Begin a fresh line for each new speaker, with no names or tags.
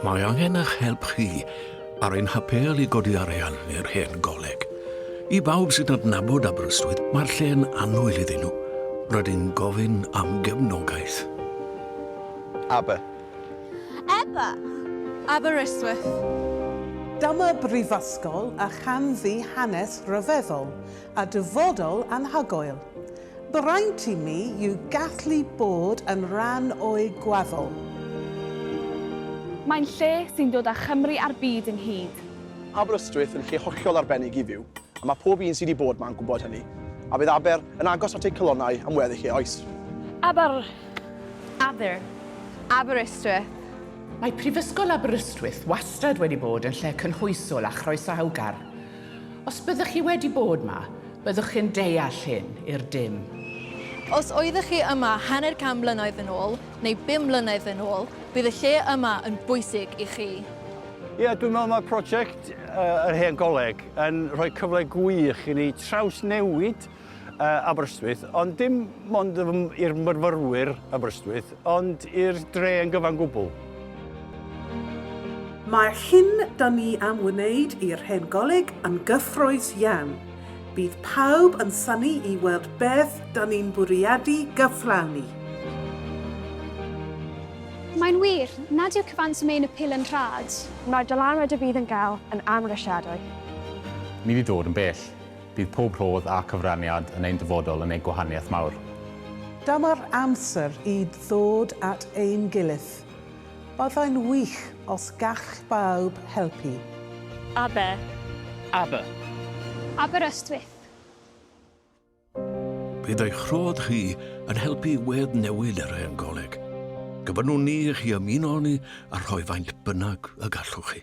Mae angen eich help chi ar ein hapêl i godi arian i'r Hen Goleg. I bawb sy'n adnabod Aberystwyth, mae'r lle'n annwyl iddyn nhw. Rydyn gofyn am gefnogaeth. Aber.
Aber. Aberystwyth.
Dyma brifysgol a chan fu hanes rhyfeddol. a dyfodol anhygoel. Braint i mi yw gallu bod yn rhan o'i gwaddol.
Mae'n lle sy'n dod â Chymru a'r byd ynghyd. Aberystwyth
yn lle hollol arbennig i fyw, a mae pob un sy' 'di bod 'ma yn gwybod hynny. A bydd Aber yn agos at ei calonnau am weddill ei oes. Aber. Aber.
Aberystwyth. Mae
Prifysgol Aberystwyth wastad wedi bod yn lle cynhwysol a chroesawgar. Os byddwch chi wedi bod ma, byddwch chi'n deall hyn i'r dim. Os
oeddech chi yma hanner can mlynedd yn ôl, neu bum mlynedd yn ôl, bydd y lle yma yn bwysig i chi. Ie, dwi'n meddwl
mae prosiect yr Hen Goleg yn rhoi cyfle gwych i ni trawsnewid Aberystwyth, ond dim ond i'r myrfyrwyr Aberystwyth, ond i'r dre yn gyfan gwbl.
Mae'r hyn da ni am wneud i'r Hen Goleg yn gyffrous iawn. Bydd pawb yn synnu i weld beth da ni'n bwriadu gyflawni.
Mae'n wir, nad yw cyfanswm ein apêl yn rhad. Mae'r dylanwad y
bydd yn gael yn amhrisiadwy. Ni
'di dod yn bell. Bydd pob rhodd a cyfraniad yn ein dyfodol yn ei gwahaniaeth mawr. Dyma'r
amser i ddod at ein gilydd. Byddai'n wych os gall bawb helpu. Aber. Aber.
Aberystwyth.
Bydd eich rhodd chi yn helpu i weddnewid yr hen goleg. Gofynnwn ni i chi ymuno â ni a rhoi faint bynnag y gallwch chi.